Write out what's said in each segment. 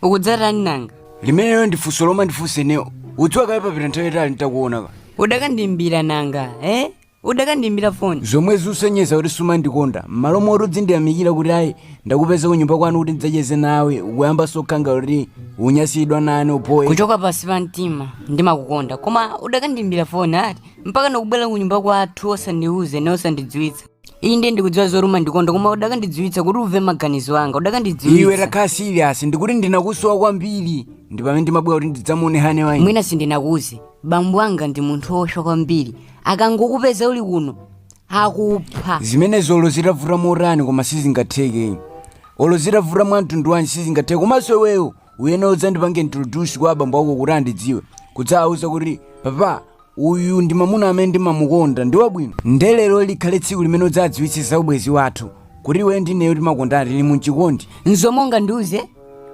ukudzatani nanga limeneyo ndi funso lomwe ndifunse ineyo ukudziwa kale papita nthawi yatali nditakuonapo udakandimbira nanga eh udakandimbira foni zomwe zikusonyeza kuti sumandikonda m'malo moti udzindiyamikira kuti ayi ndakupeza kunyumba kwanu kuti ndidzacheze nawe ukuyamba zokhala ngati unyasidwa nane upo ine kuchoka pasi pa mtima ndimakukonda koma udakandimbira foni ati mpaka ndakubwera kunyumba kwathu osandiuza ine osandidziwitsa inde ndikudziwa zoti umandikonda koma udakandidziwitsa kuti umve maganizo anga udakandidziwitsa iwe takhala serious ndikuti ndinakusowa kwambiri ndi pamene ndimabwera kuti ndidzamuone hane ayi mwina sindinakuuze bambo anga ndi munthu wolusa kwambiri akangokupeza uli kuno akupha zimenezo olo zitavuta motani koma sizingatheke olo zitavuta mwa mtundu wanji sizingatheke komanso iweyo uyene udzandipange introduce kwa abambo ako kuti andidziwe udzawauze kuti papa uyu ndi mamuna amene ndimamukonda ndi wabwino nde lero likhale tsiku limene udzadziwitse za ubwezi wathu kuti iweyo ndi ineyo timakondana tili mumchikondi nzomwe ungandiuze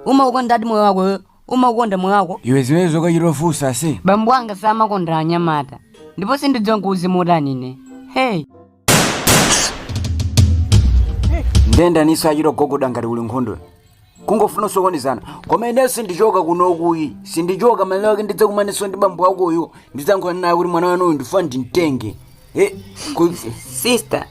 umaukonda ati moyo wako iwe umaukonda moyo wako iwe zimenezo ukuchita kufunsaso bambo anga samakonda anyamata ndipo sindidziwa nkuuze motani ine hey nde ndaniso akuchita kugogoda ngati kuli nkhondo kungofuna kusokonezana koma ineyo sindichoka kunoko ayi sindichoka malo mwake ndidzakumaniso ndi bambo wakoyo ndidzayankhulana naye kuti mwana wanuyu ndifuna ndimtenge Eh, ku- sister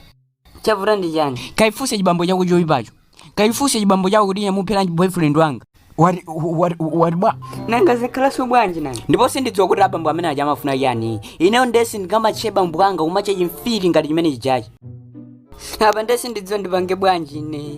chavuta ndi chani kachifunse chibambo chako choyipacho kachifunse chibambo chako kuti chamupheranji boyfriend wanga wati wati wati bwa nanga zikhalaso bwanji nanga ndipo sindidziwa kuti abambo amene aja amafuna chani ineyo nde sindingamatche bambo anga kumatche chimfiti ngati chimene chijachi apa nde sindidziwa ndipange bwanji ine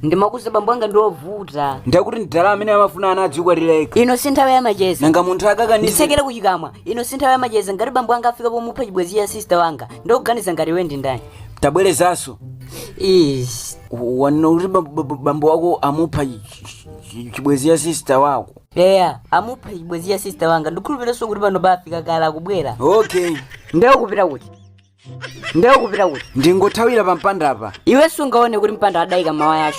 ndimakuuza bambo anga ndiovuta ndakuti ndidala amene amafuna ana adzikwatila ino si nthawi ya macheza nanga munthu akakaniza ndisekere kuchikamwa ino si nthawi ya macheza ngati bambo anga afika pomupha chibwenzi ya sista wanga nde ukuganiza ngati iwe ndi ndani tabwerezanso Ish. wanena kuti ba- ba- ba- bambo wako amupha chi- chi- chi- chibwenzi ya sista wako eya amupha chibwenzi ya sista wanga ndikhulupiranso kuti pano pafika kale akubwera okay nde ukupita kuti nde ukupita kuti ndingothawira pampandapa iwe sungaone kuti mpanda adayika mawaya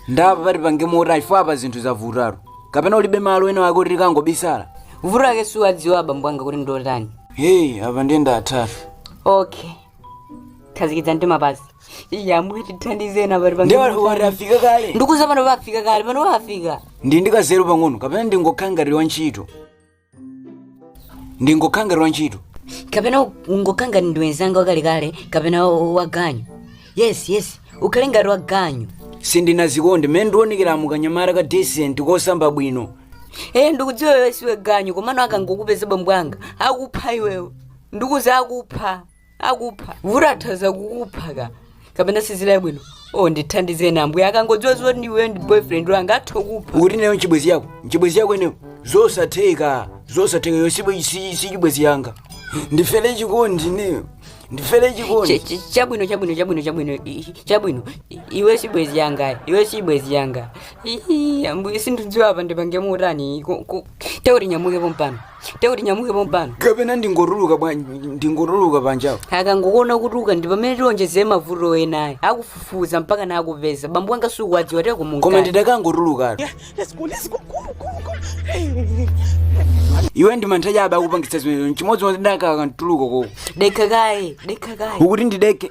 nde apa tipange motani chifukwa apa zinthu zavutatu kapena ulibe malo ena wake kuti tikangobisala vuto lake siwadziwa abambo anga kuti ndotani heyi apa ndiye ndathatu okay khazikitsa mtima pasi ya amwene tithandizane apa tipange ndiye motani. watafika kale ndikukuuza pano pafika kale pano pafika ndi ndili ndi kanzeru pang'ono kapena ndingokhala ngati wa ntchito ndingokhala ngati wa ntchito kapena ungokhala ngati ndiwe nzanga wakalekale kapena waganyu yes yes ukhale ngati waganyu sindinazikonde mmene ndikuonekeramu kanyamata ka decent kosamba bwino ee ndikudziwa iwe si waganyu komano akangokupeza bambwanga akupha iweyo ndikukuuza akupha akupha vuto atha kukupha ka kapena sizili bwino o ndithandizeni ambuye akangodziwa zoti ndiwe ndi boyfriend wanga atha kupha ukuti ndiyo nchibwenzi chako nchibwenzi chako ineyo zosatheka zosatheka yo si- si- si chibwenzi changa ndifere chikondi ineyo ndifere Ch- chikondi ch- chabwino chabwino chabwino chabwino i- i- chabwino I- iwe si bwenzi langa iwe si bwenzi langa Ii, ambuye sindikudziwa apa ndipange motani Ko- ko- tekuti nyamuke pompano tekuti nyamuke pompano kapena ndingotuluka bwa- ndingotuluka panjapo akangokuona kutuluka ndi pamene tionjezere mavuto enayo akufufuza mpaka nakupeza bambo wanga sukuwadziwa teko koma ndidakangotulukatu Let's go, let's go, go, go, go. Hey. iwe ndi mantha chabe akupangitsa zimenezo nchimodzimodzi ndidakakatuluka koko dekha kaye dekha kaye ukuti ndidekhe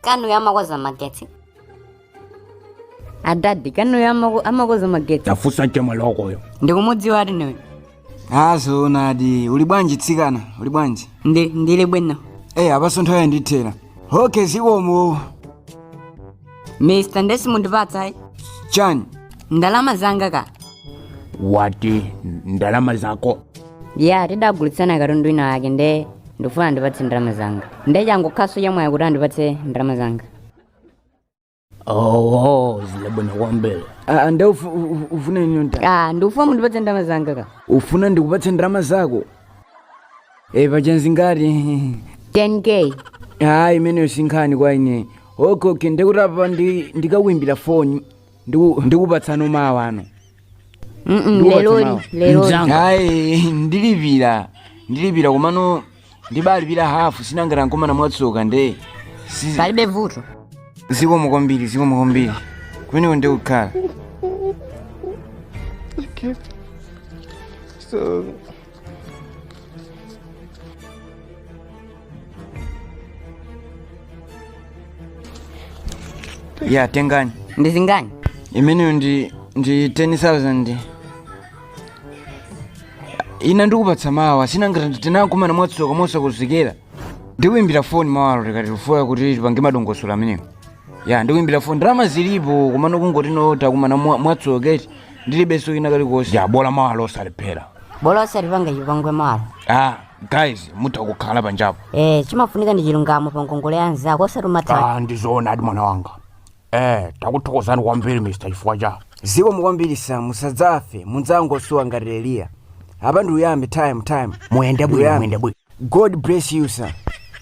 kanuyo amakoza magetsi adadi akanuyo amako- amakoza magetsi tafunsa mchemwali wakoyo ndikumudziwa ati ndiwe a zoonadi uli bwanji tsikana uli bwanji ndi ndili bwino eyi apanso nthawi yandithera hoke zikomo mr ndesi mundipatsa chani ndalama zanga ka mwati ndalama zako ya tidagulitsana katundu ina yake nde ndikufuna andipatse ndalama zanga nde changokhanso chamwayi kuti andipatse ndalama zanga owo zilibwino kwambiri Ah, nde ufu- u- u- ufuna ineyo nta ah ndikufuna mundipatse ndalama zanga ka ufuna ndikupatse ndalama zako e pa chanzi ngati 10k hayi imeneyo sinkhani kwa ine okay okay ndikuti apa ndi- ndikakuimbira foni ndiku- ndikupatsano mawa ano Mm-mm, Ndiwo leroli tamawa. leroli Mzanga. hayi ndilipira ndilipira komano ndibalipira hafu si nanga takumana mwatsoka nde si- palibe vuto zikomo kwambiri zikomo kwambiri kumeneko ndi kukhala Okay. So ya tengani ndi zingati imeneyo ndi ndi 10000 ina ndikupatsa mawa si nanga tidakumana mwatsoka mosakonzekera ndikuimbira foni mawalo tikatifuna kuti tipange madongosolo amenewo ya ndikuimbira foni ndalama zilipo komano kungoti no takumana mwa- mwatsoka eti ndilibenso kena kalikonse ya bola mawalo osalephera bola osatipanga chipongwe mawalo ah guys mutha kukhala panjapo eh chimafunika ndi chilungamo pa ngongole ya mnzako osati umatha ah ndi zoonadi mwana wanga eh takuthokozani kwambiri mr chifukwa cha zikomo kwambiri sa musadzafe mudzangosowa ngati eliya apa ndi uyambe time time muyende bwino Uyambe. muyende bwino god bless you sir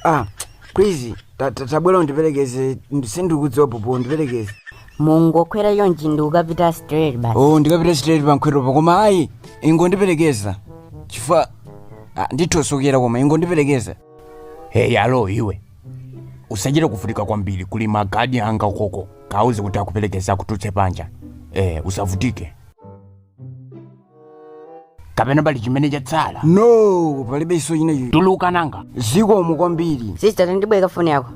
ah please ta- ta- tabwera undiperekeze sindikudziwa popo undiperekeze mungokwera yonji ndi ukapita straight basi oh ndikapita straight pankhwetopo koma ayi ingondiperekeza chifukwa ah, nditha kusokera koma ingondiperekeza hey alo iwe usachite kuvutika kwambiri kuli magadi anga ukoko kauze kuti akuperekeza akutulutse panja eh usavutike kapena pali chimene chatsala no palibe chinacho tuluka nanga zikomo kwambiri sista tandibwereka foni yako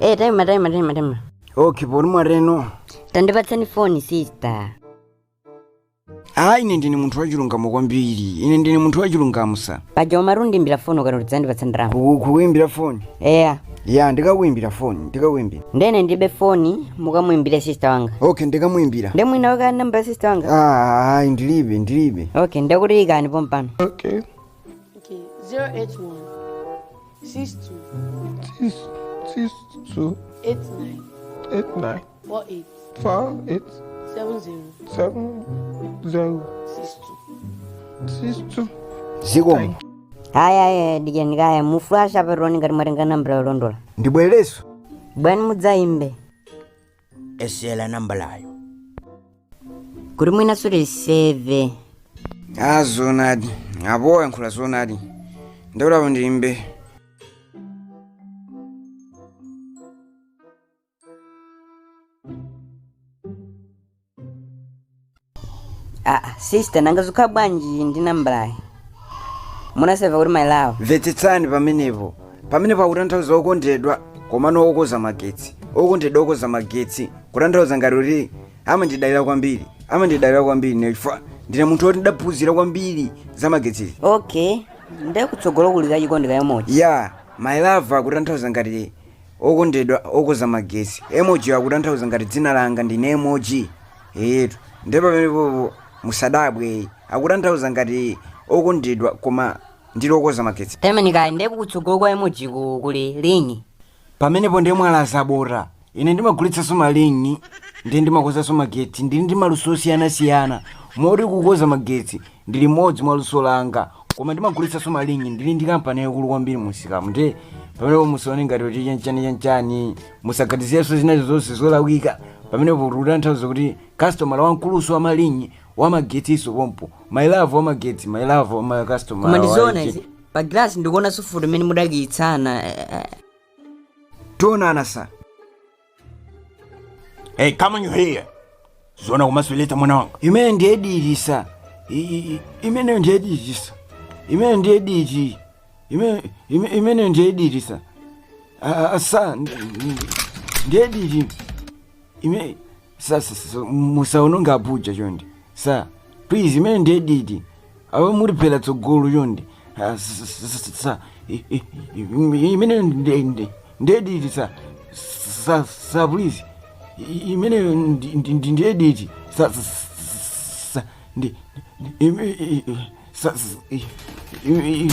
e taima taima taima taima okay poti mwateno tandipatsani foni sista ayi ine ndine munthu wachilungamo kwambiri ine ndine munthu wachilungamo sa paja umati undiimbira foni ukati uzandipatsa ndimakukuimbira foni eya ya ndikakuimbira foni ndikakuimbira nde ndilibe foni mukamuimbire sister wanga okay ndikamuimbira nde munaika namba ya sister wanga Ah, ayi ndilibe ndilibe okay ndekuti ikani pompano okay Okay, 081 62 six six two 89 eight nine four eight four eight seven zero seven zero six two. six two. zikomo haya aya dikirani kaye muflashe tione ngati mwatenga nambala yolondola ndibwereze bwani mudzayimbe esela nambalayo kuti mwina simunaseve a zonadi apo mwayankhula zonadi ndiye apo ndiimbe aa sister nanga zikhala bwanji ndi nambalayi munaseva kuti my love mvetsetsani pamenepo pamenepo akutanthauza okondedwa komano okoza magetsi okondedwa okoza magetsi kutanthauza ngati kuti amandidalira kwambiri amandidalira kwambiri nde ine ndine munthu woti ndidaphunzira kwambiri za magetsizi okay ndekutsogolo kuli kachikondi ka emoji ya my love akutanthauza ngati Okondedwa okoza magesi, emoji yo akutanthauza ngati dzina langa ndine emoji. Eyetu. Nde pamenepopo musadabwe ayi. Akutanthauza ngati okondedwa koma ndili okoza magetsi. Pempheni kaye nde kutsogolo kwa emoji ku kuli ling'i. Pamenepo nde mwalazabota. Ine ndimagulitsanso ma ling'i nde ndimakozanso magetsi. Ndili ndi maluso osiyana siyana moti kukoza magetsi ndi limodzi mwa luso langa koma ndimagulitsanso malingi ndili ndi kampani yaikulu kwambiri mumsikamu nde pamenepo musaone ngati kuti chanchani chanchani musaganizirenso zinazake zonse zolakwika pamenepo tikutanthauza kuti kastomala wamkulunso wa malingi wamagetsinso pompo mailavu wamagetsi mailavu koma wamakastomala ndizoona izi pa gilasi ndikuona sufuti imene mudakiyitsana eh, eh. tionana sa Hey, come on you here. Zona kumasuleta mwana wangu. imene ndiye dirisa I- i- i- imene ndiye dirisa imene ndiye diri Ime- ime- imene ndiye dirisa Ah, ah, asa ndi- ndi- ndiye diri ime sa sa- sa- musaononga abuja chonde sa please imene ndiye diri awe muri bela tsogolo chonde Ah, s- s- s- s- sa- i- i- i- imene nde- nde- ndediti sa sa- sa please I- imene ndi- ndi- ndi- ndediti sa sa- sa- sa- ndi- ndi- ime- i- i- sa- s- i- i- i-